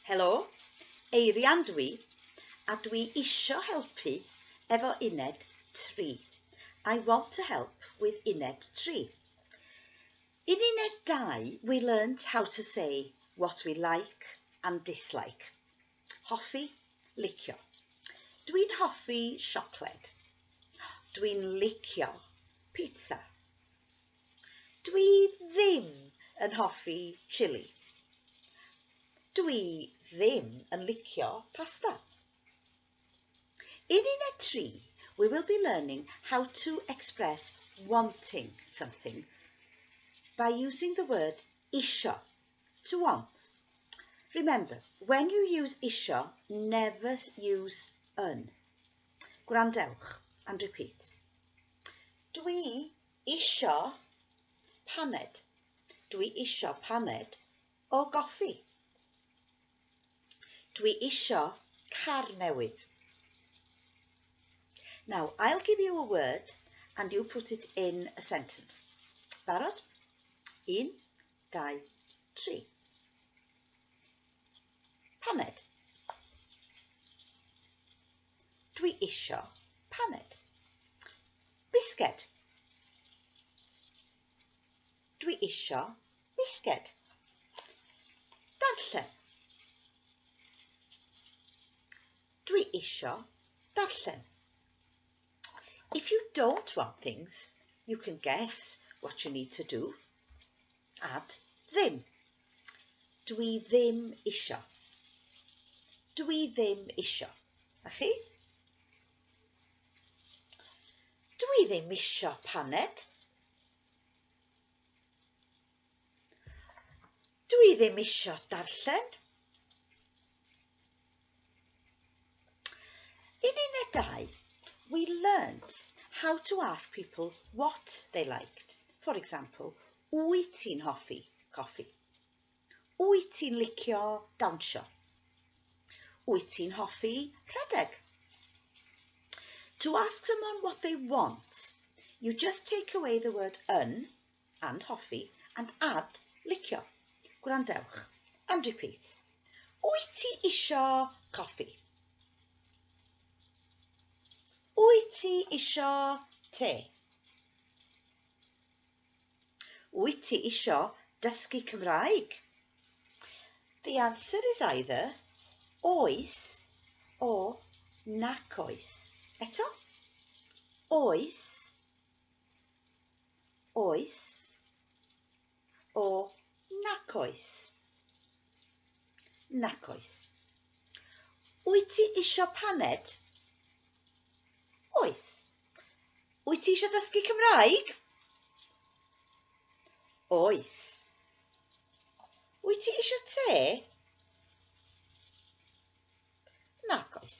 Helo, Eirian dwi, a dwi isio helpu efo uned 3. I want to help with uned 3. In uned 2, we learnt how to say what we like and dislike. Hoffi, licio. Dwi'n hoffi siocled. Dwi'n licio pizza. Dwi ddim yn hoffi chili. Dwi ddim yn licio pasta. In unit 3, we will be learning how to express wanting something by using the word isio To want. Remember, when you use isio, never use yn. Gwrandewch and repeat. Dwi isio paned. Dwi isio paned o goffi. Dwi isio car newydd. Now, I'll give you a word and you put it in a sentence. Barod? Un, dau, tri. Paned. Dwi isio paned. Bisged. Dwi isio bisged. Darllen. Dwi isio darllen. If you don't want things, you can guess what you need to do. Add ddim. Dw i ddim isio. Dw i ddim isio. A chi? Dw i ddim isio paned. Dw i ddim isio darllen. In unit 2, we learnt how to ask people what they liked. For example, wyt ti'n hoffi coffi? Wyt ti'n licio dawnsio? Wyt ti'n hoffi rhedeg? To ask someone what they want, you just take away the word yn and hoffi, and add, licio. Gwrandewch, and repeat. Wyt ti isio coffi? Wyt ti isio te? Wyt ti isio dysgu Cymraeg? The answer is either oes or nac oes. Eto, oes oes o nac oes. Nac oes. Wyt ti isio paned? Oes. Wyt ti eisiau dysgu Cymraeg? Oes. Wyt ti eisiau te? Nac oes.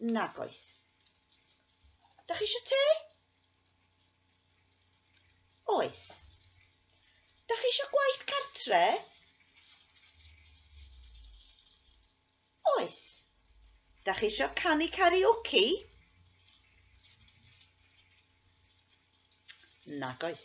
Nag oes. Da chi eisiau te? Oes. Da chi eisiau gwaith cartre? Oes. Da chi eisiau canu karaoke? Nag oes.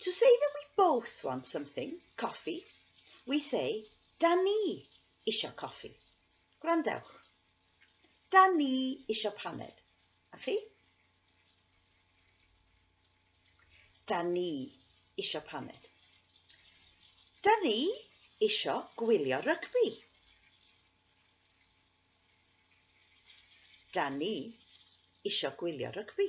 To say that we both want something, coffi, we say, da ni isio coffi. Gwrandewch. Da ni isio paned. A chi? Da ni isio paned. Da ni isio gwylio rygbi. Da ni isio gwylio rygbi.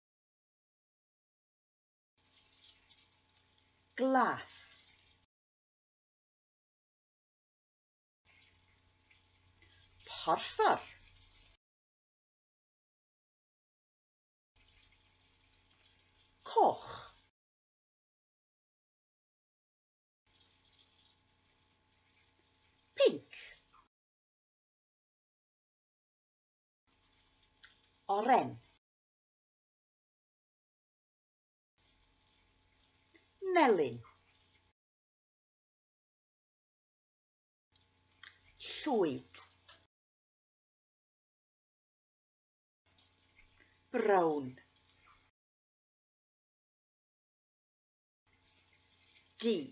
glas porffor coch pinc oren Melyn. Llwyd. Brown. D.